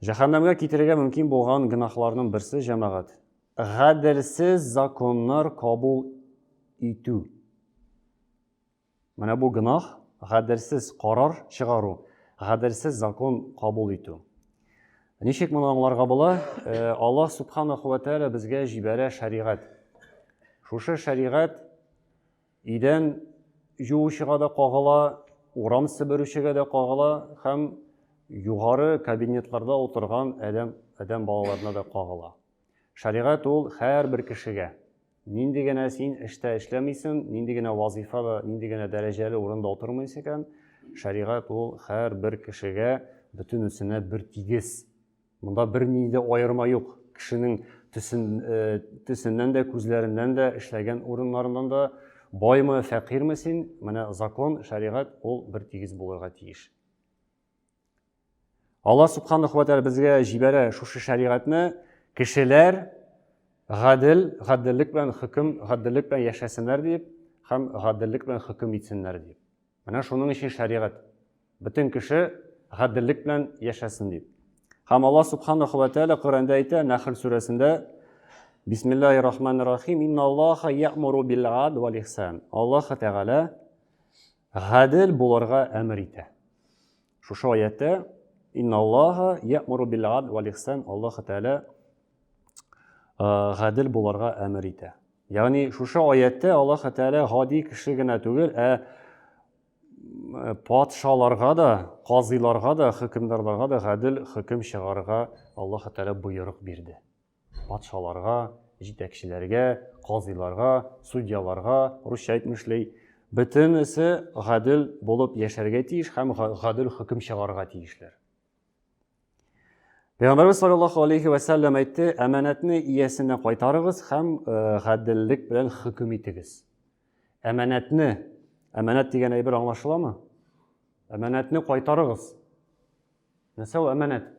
Җәһәннәмгә китерергә мөмкин булган гөнаһларның берсе җәмәгать. Гаделсез законнар кабул итү. Менә бу гөнаһ, гаделсез карар чыгару, гаделсез закон кабул итү. Ничек моны аңларга була? Э, Аллаһ субханаху ва тааля безгә җибәрә шәригать. Шушы шәригать Идән җуучыга да кагыла, урам себерүчегә дә кагыла һәм югары кабинетларда утырган адәм, адәм балаларына да кагыла. Шәригать ул һәрбер кешегә. Нинди генә син эштә эшләмисен, нинди генә вазифада, нинди генә дәрәҗәле урында утырмыйсы икән, шәригать ул һәрбер кешегә бөтенесенә бер тигез. Монда бернинди дә аерма юк. Кешенең төсен, төсеннән дә, күзләреннән дә, эшләгән урыннарыннан да, Баймы, фәкыйрьме син? Менә закон, шәригать ул бер тигез булырга тиеш. Алла субханаху ва безгә җибәрә шушы шәригатьне, кешеләр гадел, гаделлек белән хөкем, гаделлек белән яшәсеннәр дип һәм гаделлек белән хөкем итсеннәр дип. Менә шуның өчен шәригать. Бөтен кеше гаделлек белән яшәсен дип. Һәм Аллаһ субханаху ва тааля Коръәндә әйтә, Нәхл сүрәсендә, Бисмиллахи рахмани рахим, инна Аллаха я'муру бил ад вал ихсан. Аллаһ Тәгалә гадел булырга әмер итә. Шушы аятта инна Аллаха я'муру бил ад вал ихсан. Аллаһ Тәгалә гадел булырга әмер итә. Ягъни шушы аятта Аллаһ Тәгалә гади кеше генә түгел, ә патшаларга да, казыйларга да, хөкемдарларга да гадел хөкем чыгарырга Аллаһ Тәгалә боерык бирде. Патшаларга, җитәкчеләргә, казыйларга, судьяларга, русча әйтмешли, бөтенесе гадел булып яшәргә тиеш һәм гадел хөкем чыгарырга тиешләр. Пәйгамбәрбез саллаллаху алейхи ва сәлләм әйтте, әманәтне иясенә кайтарыгыз һәм э, гаделлек белән хөкем итегез. Әманәтне, әманәт дигән әйбер аңлашыламы? Әманәтне кайтарыгыз. Нәрсә ул әманәт?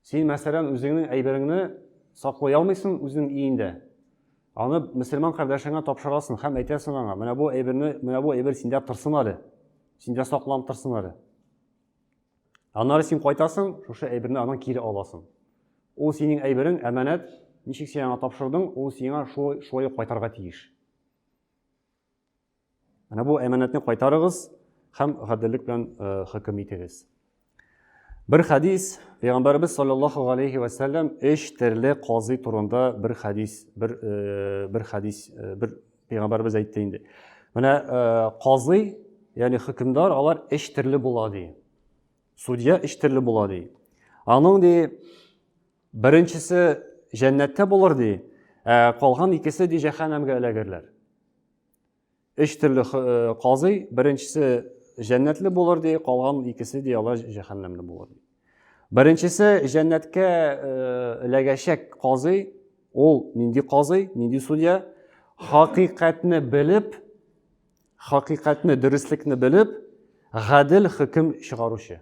Син, мәсәлән, үзеңнең әйбереңне саклый алмыйсың үзеңнең өеңдә. Аны мөселман кардәшеңә тапшырасың һәм әйтәсең аңа, менә бу әйберне, менә бу әйбер синдә торсын әле. Синдә сакланып торсын әле. Аннары син кайтасың, шушы әйберне аннан кире аласың. Ул синең әйберең, әманәт, ничек син аңа тапшырдың, ул сиңа шулай шулай кайтарга тиеш. Менә бу әманәтне кайтарыгыз һәм гаделлек белән э, хөкем итегез. Бер хадис, Пәйгамбәрбез саллаллаху алейхи ва саллям эш терле казый турында бер хадис, бер э, бер хадис, э, бер Пәйгамбәрбез әйтте инде. Менә казый, ягъни хөкемдар, алар эш терле була ди. Судья эш терле була ди. Аның ди беренчесе җәннәттә булыр ди, ә калган икесе ди җәһәннәмгә эләгерләр. Өч төрле казый, беренчесе җәннәтле булыр ди, калган икесе ди алар җәһәннәмле булыр ди. Беренчесе җәннәткә эләгәчәк казый, ул нинди казый, нинди судья? Хакыйкатьне белеп, хакыйкатьне, дөреслекне белеп, гадел хөкем чыгаручы.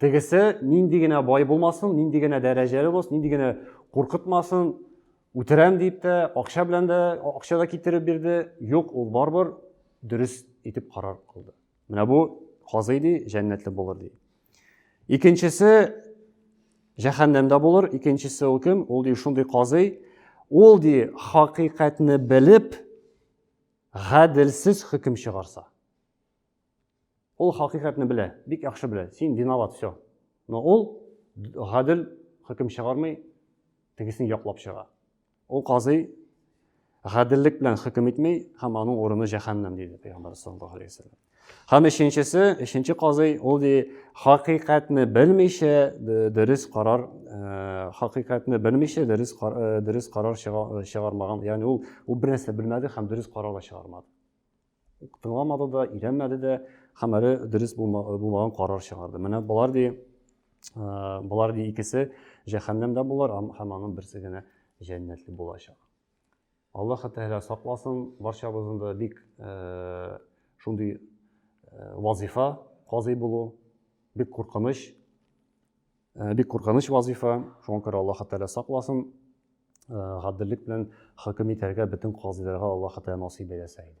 Тегесе нинди генә бай булмасын, нинди генә дәрәҗәле булсын, нинди генә куркытмасын, үтерәм дип тә, акча белән дә, акча да китереп бирде. Юк, ул барбыр дөрес итеп карар кылды. Менә бу казый ди, җәннәтле булыр ди. Икенчесе җәһәннәмдә булыр, икенчесе ул кем? Ул ди шундый казый, ул ди хакыйкатьне белеп, гаделсез хөкем чыгарса. Ул хакыйкатьне белә, бик яхшы белә. Син виноват, все. Но ул гадел хөкем чыгармый, тегесен яклап чыга. Ул казый гаделлек белән хөкем итми, һәм аның урыны җәһәннәм диде пәйгамбәр саллаллаһу алейһи вәсәлләм. Һәм өченчесе, өченче казый, ул ди хакыйкатьне белмичә дөрес карар, э, хакыйкатьне белмичә дөрес э, дөрес карар чыгармаган. Ягъни ул ул бер нәрсә белмәде һәм дөрес карар да чыгармады. тыңламады да, өйрәнмәде дә, һәм әле дөрес булмаган карар чыгарды. Менә болар ди, болар ди икесе җәһәннәмдә булар һәм аның берсе генә җәннәтле булачак. Аллаһ Тәгалә сакласын, барчабызны да бик шундый вазифа казый булу бик куркыныч, бик куркыныч вазифа. Шуңа күрә Аллаһ Тәгалә сакласын, гаделлек белән хөкем итәргә бөтен казыйларга Аллаһ Тәгалә насыйп әйләсә иде.